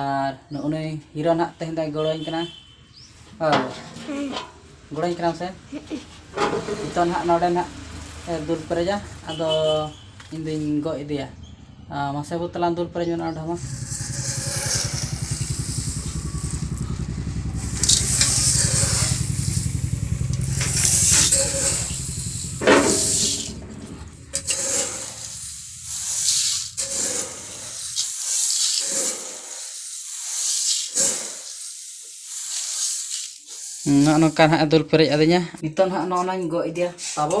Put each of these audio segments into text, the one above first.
ᱟᱨ ᱱᱩᱜ ᱱᱩᱭ ᱦᱤᱨᱳ ᱱᱟᱦᱟᱜ ᱛᱮᱦᱮᱧ ᱫᱚᱭ ᱜᱚᱲᱚᱣᱟᱹᱧ ᱠᱟᱱᱟ ᱜᱚᱲᱚᱣᱟᱹᱧ ᱠᱟᱱᱟᱢ ᱥᱮ ᱱᱤᱛᱚᱜ ᱱᱟᱦᱟᱜ ᱱᱚᱰᱮ ᱱᱟᱦᱟᱜ ᱫᱩᱞ ᱯᱮᱨᱮᱡᱟ ᱟᱫᱚ ᱤᱧ ᱫᱩᱧ ᱜᱚᱜ ᱤᱫᱤᱭᱟ ᱢᱟᱥᱮ ᱵᱟᱹᱵᱩ ᱛᱟᱞᱟᱝ ᱫᱩᱞ ᱯᱮᱨᱮᱡ ᱢᱮ ᱱᱚᱣᱟ ᱰᱷᱟᱢᱟ ᱱᱚᱜᱼᱚ ᱱᱚᱝᱠᱟ ᱱᱟᱦᱟᱜ ᱫᱩᱞ ᱯᱮᱨᱮᱡ ᱟᱹᱫᱤᱧᱟ ᱱᱤᱛᱚᱜ ᱱᱟᱦᱟᱜ ᱱᱚᱜᱼᱚ ᱱᱟᱧ ᱜᱚᱜ ᱤᱫᱤᱭᱟ ᱛᱟᱵᱚ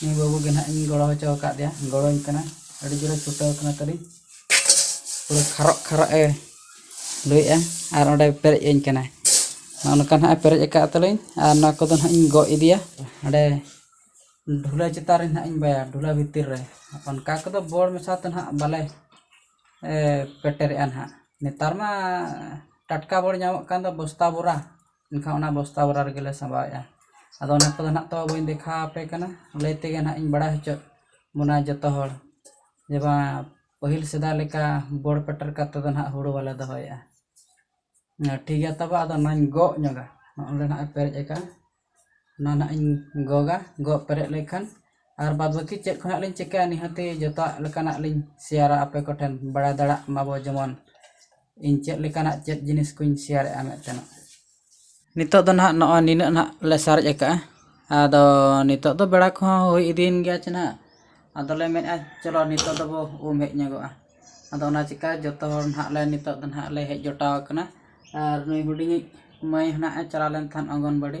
ᱱᱩᱭ ᱵᱟᱹᱵᱩ ᱜᱮ ᱱᱟᱦᱟᱜ ᱤᱧ ᱜᱚᱲᱚ ᱦᱚᱪᱚ ᱟᱠᱟᱫᱮᱭᱟ ᱜᱚᱲᱚᱧ ᱠᱟᱱᱟ ᱟᱹᱰᱤ ᱡᱳᱨᱮ ᱪᱷᱩᱴᱟᱹᱣ ᱠᱟᱱᱟ ᱛᱟᱹᱞᱤᱧ ᱯᱩᱨᱟᱹ ᱠᱷᱟᱨᱚᱜ ᱠᱷᱟᱨᱚᱜ ᱮ ᱞᱩᱭᱮᱫᱼᱟ ᱟᱨ ᱚᱸᱰᱮ ᱯᱮᱨᱮᱡ ᱟᱹᱧ ᱠᱟᱱᱟᱭ ᱱᱚᱜᱼᱚ ᱱᱚᱝᱠᱟ ᱱᱟᱦᱟᱜ ᱮ ᱯᱮᱨᱮᱡ ᱟᱠᱟᱫ ᱛᱟᱹᱞᱤᱧ ᱟᱨ ᱱᱚᱣᱟ ᱠᱚᱫᱚ ᱱᱟᱦᱟᱜ ᱤᱧ ᱜᱚᱜ ᱤᱫᱤᱭᱟ ᱚᱸᱰᱮ ᱰᱷᱩᱞᱟᱹ ᱪᱮᱛᱟᱱ ᱨᱮ ᱱᱟᱦᱟᱜ ᱤᱧ ᱵᱟᱭᱟ ᱰᱷᱩᱞᱟᱹ ᱵᱷᱤᱛᱤᱨ ᱨᱮ ᱚᱱᱠᱟ ᱠᱚᱫᱚ ᱵᱚᱲ ᱢᱮᱥᱟ ᱛᱮ ᱱᱟᱦᱟᱜ ᱵᱟᱞᱮ ᱯᱮᱴᱮᱨᱮᱫᱼᱟ ᱱᱟᱦᱟᱜ ᱱᱮᱛᱟᱨ ᱢᱟ ᱴᱟᱴᱠᱟ ᱵᱚᱲ ᱧᱟᱢᱚᱜ ᱠᱟᱱ ᱫᱚ ᱵᱚᱥᱛᱟ ᱵᱚᱨᱟ ᱮᱱᱠᱷᱟᱱ ᱚᱱᱟ ᱵᱚᱥᱛᱟ ᱵᱷᱚᱨᱟᱣ ᱨᱮᱜᱮᱞᱮ ᱥᱟᱢᱵᱟᱣᱮᱜᱼᱟ ᱟᱫᱚ ᱚᱱᱟ ᱠᱚᱫᱚ ᱱᱟᱦᱟᱜ ᱛᱚ ᱵᱟᱹᱧ ᱫᱮᱠᱷᱟᱣ ᱟᱯᱮ ᱠᱟᱱᱟ ᱞᱟᱹᱭ ᱛᱮᱜᱮ ᱱᱟᱦᱟᱜ ᱤᱧ ᱵᱟᱲᱟᱭ ᱦᱚᱪᱚᱭᱮᱫ ᱵᱚᱱᱟ ᱡᱚᱛᱚ ᱦᱚᱲ ᱡᱮ ᱵᱟᱝ ᱯᱟᱹᱦᱤᱞ ᱥᱮᱫᱟᱭ ᱞᱮᱠᱟ ᱵᱚᱲ ᱯᱮᱴᱮᱨ ᱠᱟᱛᱮᱫ ᱫᱚ ᱱᱟᱦᱟᱜ ᱦᱩᱲᱩ ᱵᱟᱞᱮ ᱫᱚᱦᱚᱭᱮᱜᱼᱟ ᱴᱷᱤᱠ ᱜᱮᱭᱟ ᱛᱚᱵᱮ ᱟᱫᱚ ᱚᱱᱟᱧ ᱜᱚᱜ ᱧᱚᱜᱟ ᱱᱚᱜᱼᱚᱸᱰᱮ ᱱᱟᱦᱟᱜ ᱮ ᱯᱮᱨᱮᱡ ᱟᱠᱟᱫᱼᱟ ᱚᱱᱟ ᱱᱟᱦᱟᱜ ᱤᱧ ᱜᱚᱜᱟ ᱜᱚᱜ ᱯᱮᱨᱮᱡ ᱞᱮᱱᱠᱷᱟᱱ ᱟᱨ ᱵᱟᱫᱽ ᱵᱟᱹᱠᱤ ᱪᱮᱫ ᱠᱚ ᱦᱟᱸᱜ ᱞᱤᱧ ᱪᱤᱠᱟᱹᱭᱟ ᱱᱤᱦᱟᱹᱛᱤ ᱡᱚᱛᱚᱣᱟᱜ ᱞᱮᱠᱟᱱᱟᱜ ᱞᱤᱧ ᱥᱮᱭᱟᱨᱟ ᱟᱯᱮ ᱠᱚᱴᱷᱮᱱ ᱵᱟᱲᱟᱭ ᱫᱟᱲᱮᱭᱟᱜ ᱢᱟᱵᱚᱱ ᱡᱮᱢᱚᱱ ᱤᱧ ᱪᱮᱫ ᱞᱮᱠᱟᱱᱟᱜ ᱪᱮᱫ ᱡᱤᱱᱤᱥ ᱠᱚᱧ ᱥᱮᱭᱟᱨᱮᱫᱼᱟ ᱢᱮᱱᱛᱮ ᱱᱤᱛᱚᱜ ᱫᱚ ᱱᱟᱦᱟᱜ ᱱᱚᱜᱼᱚᱭ ᱱᱤᱱᱟᱹᱜ ᱱᱟᱦᱟᱜ ᱞᱮ ᱥᱟᱨᱮᱡ ᱟᱠᱟᱫᱼᱟ ᱟᱫᱚ ᱱᱤᱛᱚᱜ ᱫᱚ ᱵᱮᱲᱟ ᱠᱚᱦᱚᱸ ᱦᱩᱭ ᱤᱫᱤᱭᱮᱱ ᱜᱮᱭᱟ ᱪᱮ ᱱᱟᱦᱟᱜ ᱟᱫᱚ ᱞᱮ ᱢᱮᱱᱮᱫᱼᱟ ᱪᱚᱞᱚ ᱱᱤᱛᱚᱜ ᱫᱚᱵᱚ ᱩᱢ ᱦᱮᱡ ᱧᱚᱜᱚᱜᱼᱟ ᱟᱫᱚ ᱚᱱᱟ ᱪᱤᱠᱟᱹ ᱡᱚᱛᱚ ᱦᱚᱲ ᱱᱟᱦᱟᱜ ᱞᱮ ᱱᱤᱛᱚᱜ ᱫᱚ ᱱᱟᱦᱟᱜ ᱞᱮ ᱦᱮᱡ ᱡᱚᱴᱟᱣ ᱟᱠᱟᱱᱟ ᱟᱨ ᱱᱩᱭ ᱦᱩᱰᱤᱧᱤᱡ ᱢᱟᱹᱭ ᱦᱚᱸ ᱱᱟᱦᱟᱜ ᱮ ᱪᱟᱞᱟᱣ ᱞᱮᱱ ᱛᱟᱦᱮᱸᱫ ᱚᱝᱜᱚᱱᱚᱣᱟᱲᱤ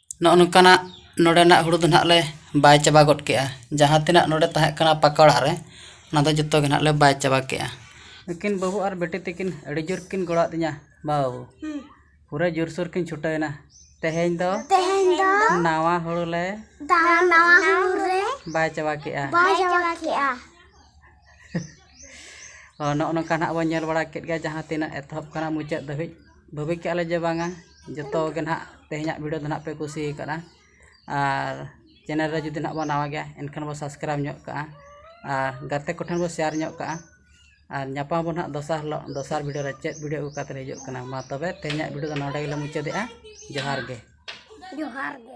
ᱱᱚᱜᱼᱚ ᱱᱚᱝᱠᱟᱱᱟᱜ ᱱᱚᱰᱮᱱᱟᱜ ᱦᱩᱲᱩ ᱫᱚ ᱱᱟᱦᱟᱜ ᱞᱮ ᱵᱟᱭ ᱪᱟᱵᱟ ᱜᱚᱫ ᱠᱮᱜᱼᱟ ᱡᱟᱦᱟᱸ ᱛᱤᱱᱟᱹᱜ ᱱᱚᱰᱮ ᱛᱟᱦᱮᱸ ᱠᱟᱱᱟ ᱯᱟᱠᱟ ᱚᱲᱟᱜ ᱨᱮ ᱚᱱᱟ ᱫᱚ ᱡᱚᱛᱚ ᱜᱮ ᱱᱟᱦᱟᱜ ᱞᱮ ᱵᱟᱭ ᱪᱟᱵᱟ ᱠᱮᱜᱼᱟ ᱩᱱᱠᱤᱱ ᱵᱟᱹᱦᱩ ᱟᱨ ᱵᱤᱴᱤ ᱛᱟᱹᱠᱤᱱ ᱟᱹᱰᱤ ᱡᱳᱨ ᱠᱤᱱ ᱜᱚᱲᱚ ᱟᱹᱫᱤᱧᱟ ᱵᱟᱹᱦᱩ ᱯᱩᱨᱟᱹ ᱡᱳᱨ ᱥᱳᱨ ᱠᱤᱱ ᱪᱷᱩᱴᱟᱹᱣᱮᱱᱟ ᱛᱮᱦᱮᱧ ᱫᱚ ᱱᱟᱣᱟ ᱦᱩᱲᱩ ᱞᱮ ᱵᱟᱭ ᱪᱟᱵᱟ ᱠᱮᱜᱼᱟ ᱱᱚᱜᱼᱚ ᱱᱚᱝᱠᱟ ᱱᱟᱦᱟᱜ ᱵᱚᱱ ᱧᱮᱞ ᱵᱟᱲᱟ ᱠᱮᱜ ᱜᱮᱭᱟ ᱡᱟᱦᱟᱸ ᱛᱤᱱᱟᱹᱜ ᱮᱛᱚᱦᱚᱵ ᱠᱷᱚᱱᱟᱜ ᱢᱩᱪᱟᱹᱫ ᱫᱷᱟᱹᱵᱤᱡ ᱵᱷᱟᱹᱵᱤ ᱠᱮᱜᱼᱟ ᱞᱮ ᱡᱮ ᱵᱟᱝᱟ ᱡᱚᱛᱚ ᱜᱮ ᱱᱟᱜ ᱛᱮᱦᱮᱧᱟᱜ ᱵᱷᱤᱰᱤᱭᱳ ᱫᱚ ᱱᱟᱜ ᱯᱮ ᱠᱩᱥᱤ ᱠᱟᱫᱟ ᱟᱨ ᱪᱮᱱᱮᱞ ᱨᱮ ᱡᱩᱫᱤ ᱱᱟᱜ ᱵᱚᱱ ᱱᱟᱣᱟ ᱜᱮᱭᱟ ᱮᱱᱠᱷᱟᱱ ᱵᱚᱱ ᱥᱟᱵᱥᱠᱨᱟᱭᱤᱵᱽ ᱧᱚᱜ ᱠᱟᱜᱼᱟ ᱟᱨ ᱜᱟᱛᱮ ᱠᱚᱴᱷᱮᱱ ᱵᱚᱱ ᱥᱮᱭᱟᱨ ᱧᱚᱜ ᱠᱟᱜᱼᱟ ᱟᱨ ᱧᱟᱯᱟᱢ ᱟᱵᱚᱱ ᱱᱟᱜ ᱫᱚᱥᱟᱨ ᱦᱤᱞᱳᱜ ᱫᱚᱥᱟᱨ ᱵᱷᱤᱰᱤᱭᱳ ᱨᱮ ᱪᱮᱫ ᱵᱷᱤᱰᱤᱭᱳ ᱟᱹᱜᱩ ᱠᱟᱛᱮᱫ ᱦᱤᱡᱩᱜ ᱠᱟᱱᱟ ᱢᱟ ᱛᱚᱵᱮ ᱛᱮᱦᱮᱧᱟᱜ ᱵᱷᱤᱰᱤᱭᱳ ᱫᱚ ᱱᱚᱰᱮ ᱜᱮᱞᱮ ᱢᱩᱪᱟᱹᱫᱮᱜᱼᱟ ᱡᱚᱦᱟᱨ ᱜᱮ ᱡᱚᱦᱟᱨ ᱜᱮ